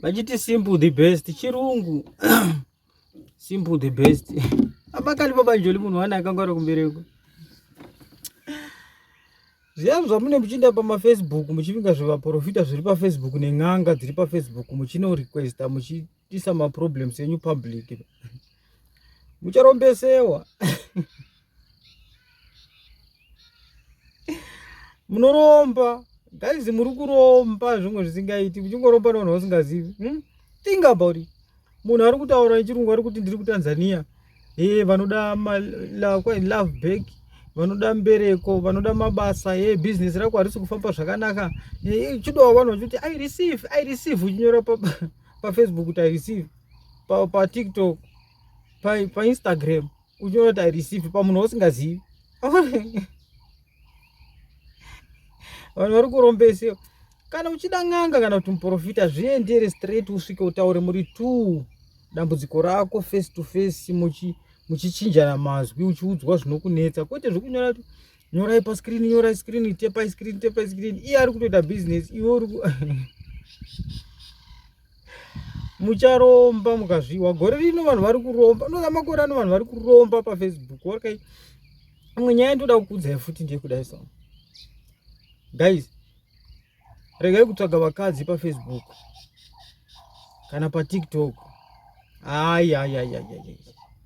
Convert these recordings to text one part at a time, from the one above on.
vachiti simple the best chirungu simple the best amakali pabanjoli munhu wani akanga ari kumbereko zviyani zvamune muchiinda pamafacebook muchivinga zvevaprofita zviri pafacebook nen'anga dziri pafacebook muchino requesta muchiisa maproblems enyu public mucharombesewa munoromba guys muri kuromba zvimwe zvisingaiti muchingoromba nevanhu vasingazivi hmm? think about it munhu ari kutaura nechirungu ari kuti ndiri kutanzania e vanoda love back vanoda mbereko vanoda mabasa e business rako harisi kufamba zvakanaka eh, chidowa vanhu vachiti i receive i receive uchinyora pafacebook pa kuti i receive pa, pa tiktok pa, pa instagram uchiona kuti ireceive pamunhu wausingazivi vanhu vari kurombesewa kana uchida n'anga kana kuti muprofita zviendere straight usvike utaure muri two dambudziko rako face to face muchi muchichinjana mazwi uchiudzwa zvinokunetsa kwete zvekunyora kuti nyorai paskrini nyorai skrini tepai skrini tepai skrini iye ari kutoita business iwe uri mucharomba mukazviwa gore rino vanhu vari kuromba unoda makore ano vanhu vari kuromba pafacebook okay imwe nyaya ndoda kukuudzai futi ndiye kudai so guys regai kutsvaga vakadzi pafacebook kana patiktok ayayayayayay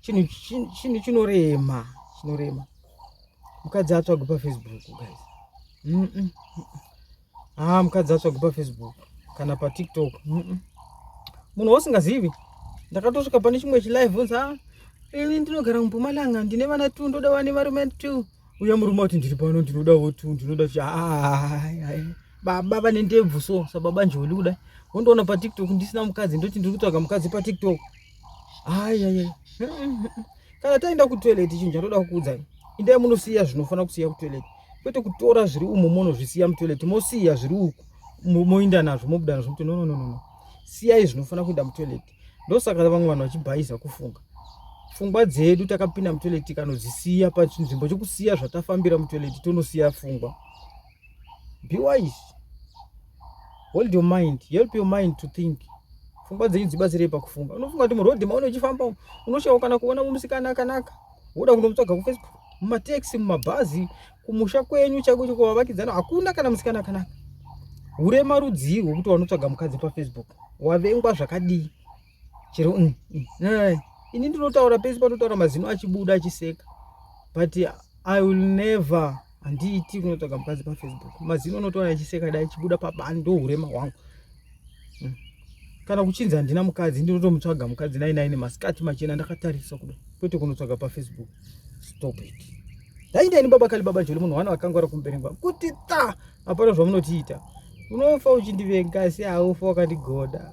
chinhu chinhu chinorema chinorema mukadzi atsvagwe pafacebook guys mm -mm. haa ah, mukadzi atsvagwe pafacebook kana patiktok mm -mm. munhu wausingazivi ndakatosvika pane chimwe chilive unzi a ini ndinogara mumpumalanga ndine vana two ndoda vane varume two uya murume ati ndiri pano ndinodawo two ndinoda chi baba vane ndebvu so sababa njoli kudai wondoona patiktok ndisina mukadzi ndoti ndiri kutsvaga mukadzi patiktok Ayayaya. Kana taenda kutoilet chinhu chatoda kukuudza. Indai munosiya zvinofanira kusiya kutoilet. Kwete kutora zviri umo monozvisiya mutoilet mosiya zviri uku moinda nazvo mobuda nazvo mutoilet. No no no no. Siyai zvinofanira kuenda mutoilet. Ndosaka vamwe vanhu vachibhayiza kufunga. Fungwa dzedu takapinda mutoilet tikanodzisiya pachinzvimbo chokusiya zvatafambira mutoilet tonosiya fungwa. be wise hold your mind help your mind to think fungwa dzenyu dzibatsirei pakufunga unofunga kuti muroad maone uchifamba unoshawa kana kuona musikana akanaka woda kundomutsvaga kufacebook mumataxi mumabhazi kumusha kwenyu chaiko chekuvavakidzana hakuna kana musikana akanaka urema rudzii rwekuti wanotsvaga mukadzi pafacebook wavengwa zvakadii chero mm, mm, eh, ini ndinotaura pese panotaura mazino achibuda achiseka but i will never handiiti kunotsvaga mukadzi pafacebook mazino anotaura achiseka dai achibuda pabani ndourema hwangu mm. kana kuchinzi handina mukadzi ndinotomutsvaga mukadzi nai nai nemasikati machena ndakatarisa kuda kwete kunotsvaga pafacebook stop it daindaini baba kali baba joli munhu wana wakangwara kumuberengwa kuti ta hapana zvamunotiita unofa uchindivenga asi haufa wakandigoda